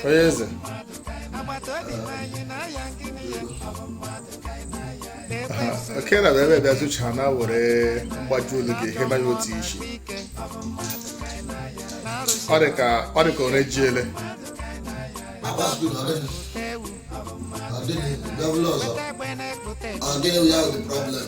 onye eze oke na ebe bịa tụcha na were mgbaji olu gị ihe banye otu isi ọ dị ka ọ dị ka ọ na-eji ele Ọ gịnị ya bụ problem?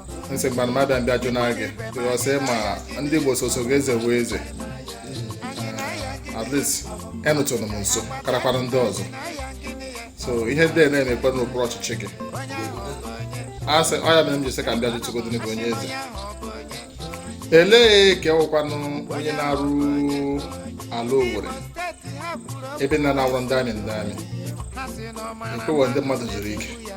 nsị mgbe m abịa m bịa jụ na gị because ma ndị Igbo soso gị eze wee eze at least anọtụrụ m nso karakwara ndị ọzọ so ihe ndị na-emekwa n'okpuru ọchịchị gị a sị ọ ya mere m ji sị ka m bịa jụtụgodi gị onye eze elee ka ewekwanụ onye na-arụ ala Owerri ebe na na-awụrụ ndị army ndị army ekweghị ndị mmadụ zuru ike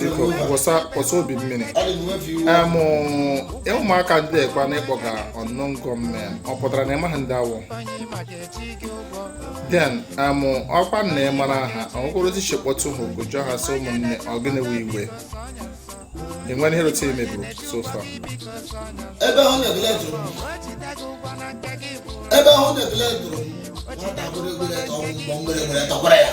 biko kwụsa kwụsa obi mmiri em ụmụaka ndị a kwa na ịkpọga unknown gunmen ọ pụtara na ịmaghị ndị ha wụ then em ọkwa na ị mara ha ọgwụgwụrụzi che kpọtụ ha oku jụọ ha sị ụmụnne ọ gịnị wụ iwe enwere ihe rote emeburu so far ebe ahụ na-ebele dụrụ m ebe ahụ na-ebele dụrụ m nwata gbere igbe ga tụọ m mbọ m gbere igbe tụkwara ya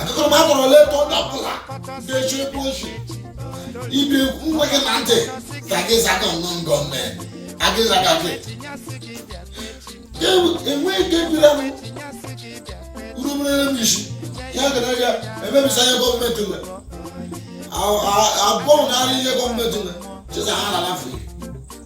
akụkọ m atọrọ leta onye ọbụla ga-eche ebe ochi ibe nwa gị na ntị ka gị zaga unknown gunmen agị zaga gị enweghị ike bira m urumerere m isi ya gara ya emebisa ihe gọọmenti nwe abụọ na ihe gọọmenti nwe chesa ha na afọ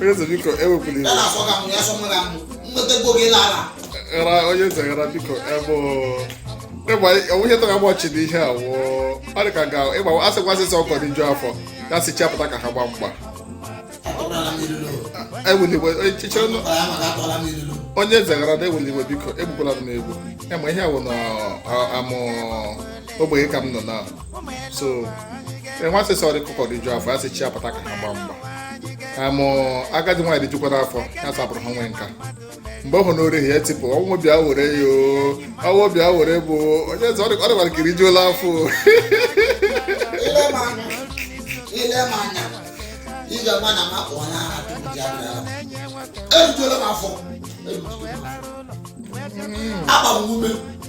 onye eze biko ewepụla iwe ghara onye eze ghara biko ebe onwunye tara gbọchi na ihe a wụọ ọ dị ka ga ịgba asịkwa asị sị ọkụkọ rijuo afọ ya sị chi ya pụta ka ha gbaa mgba ewela iwe echiche ọnụ onye eze ghara na ewela iwe biko egbukwala m n'egwu ema ihe a wụ na amụ ogbenye ka m nọ na so enwe asị sị ọkụkọ rijuo afọ ya sị chi ya pụta ka ha gbaa mgba amụ agadi nwaanyị rijukwa afọ ya sapụrụ ha nwee nka mgbe ọ hụ n'ori ha ya tipụ ọnwụ bịa were ya ọnwụ bịa were bụ onye eze ọ dịkwara ka irijuola afọ ile m anya ị ga-ama na m wụ onye agha tupu ji abịa erijuola m afọ agba m ume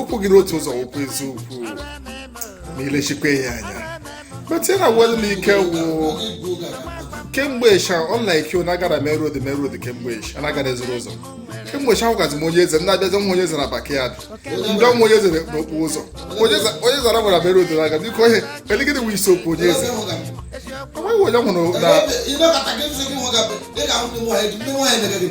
okwu gị n'otu ụzọ okwu eziokwu ma ilechikwa ya anya but ya na wel na ike wụ kemgbe ịsha unlike you na-agara main road main road kemgbe ịsha na-agara ezoro ụzọ kemgbe ịsha ahụgazi m onye eze na-abịazi nwa onye eze na backyard ndị ọnwa onye eze n'okporo ụzọ onye za- onye eze gawara main road na-aga biko ihe eligide wụ isi okwu onye eze onweghị onye m hụrụ na ịnọkọta gị nsị gị hụ ga dị ka ahụ ndị nwaanyị ndị nwaanyị na-ege gị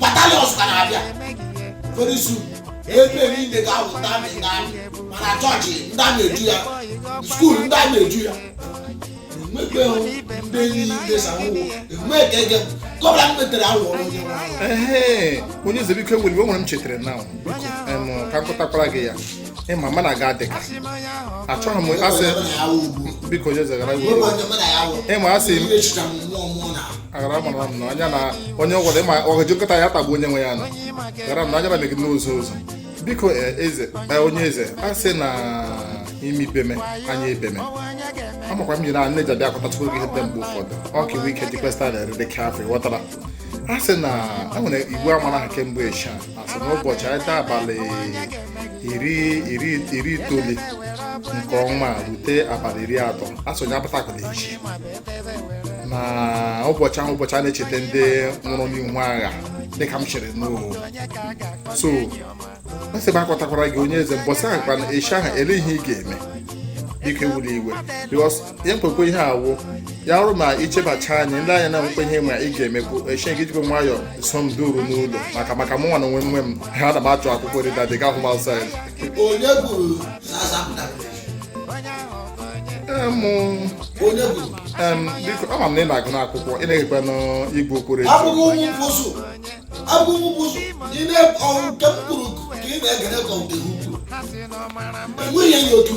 batalions ka na-abịa very soon ebe niile ga-awụ ndị army ndị army ma na chọọchị ndị army eju ya skuul ndị army eju ya enwekweghị ndị niile sanwụ enweghị ka ege gọbla m metere awụ ọrụ onye nwe ahụ. Ehe, onye eze biko ewela iwe o nwere m chetara na biko em, ka m kọtakwara gị ya ịma mụ na gị adịka achọghị m asị biko onye eze gara iwu ịma asị m aghara mara m na anya na onye ọgwara ịma ọgaji nkịta ya tagbu onye nwe ya nọ gara m na anya na megide n'ụzọ ụzọ biko eh, eze eh, onye eze asị na ime ibeme anya ebeme amakwa m jiri a na-eji abịa akọtachukwu gị ihe ndị mgbe ụfọdụ ọ ka iwe ike jikwesịta na-ere dị kafe ghọtara a sị na e nwere igwe amara ha kemgbe eshia asị na ụbọchị anyị taa abalị iri iri iri itoolu nke ọnwa a rute abalị iri atọ asị onye apụtakwala echi na ụbọchị ahụ ụbọchị a na-echeta ndị nwụrụ n'ihu agha dịka m chere n'o so asị m akọtakwara gị onye eze mbọsị ahụ kwana echi ahụ ele ihe ị ga-eme biko ewela iwe because ya nkwekwe ihe awụ ya ọrụ ma ichebacha anya ndị anya na-enwekwa ihe ma ị ga-emekwu echi gị jikwa nwayọ so m duru n'ụlọ maka maka mụnwa na onwe nwe m ha na m achọ akwụkwọ nri dadị ga-ahụ m outside onye kwuru na azapụta Em, onye kwuru em, biko ama m na ị na-agụ n'akwụkwọ ị na-egekwa n'igwe okporo echi abụghị ụmụ mkpụsụ abụghị ụmụ mkpụsụ ị na-ekwu nke m kwuru ka ị na-egere ka ọ dị ukwu enweghị enyi otu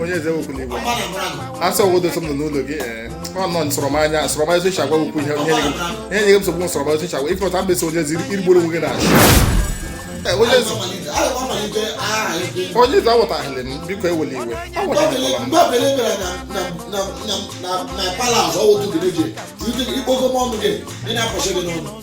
onye eze ewekwala iwe asị ọgwụ dosa m nọ n'ụlọ gị ọ nọ nsọrọmanya nsọrọmanya otu iche agwa wekwu ihe ihe nye gị nsogbu nsọrọmanya otu iche agwa ife ọta mbesi onye ezi irigbo onwe gị na achị onye eze awụtaghịlị m biko ewele iwe awụtaghịlịla m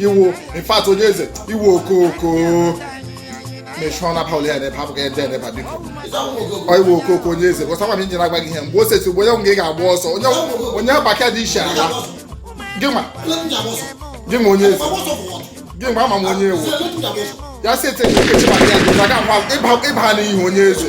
ị wụ in fact onye eze ị wụ okoko mechụọ na paul ya n'ebe hapụ ka ede n'ebe biko ọ ị wụ okoko onye eze gọsa gwa m injin agbaghị ihe mgbe o sesi ugbo onye nwe gị ga-agba ọsọ onye nwụ- onye gbaka dị iche ala gị nwa gị nwa onye eze gị nwa ama m onye ị wụ ya si ete ekechi maka ya dị ka ga-agwa ịba ịba n'ihi onye eze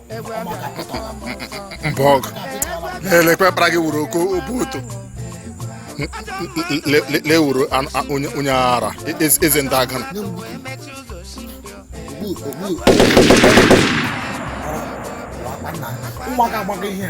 mba ọ bụ gị lekwe ọkpara gị wuru oke obu oto lewuru onye ara e, e, eze ndị agana ụmụaka agbago ihe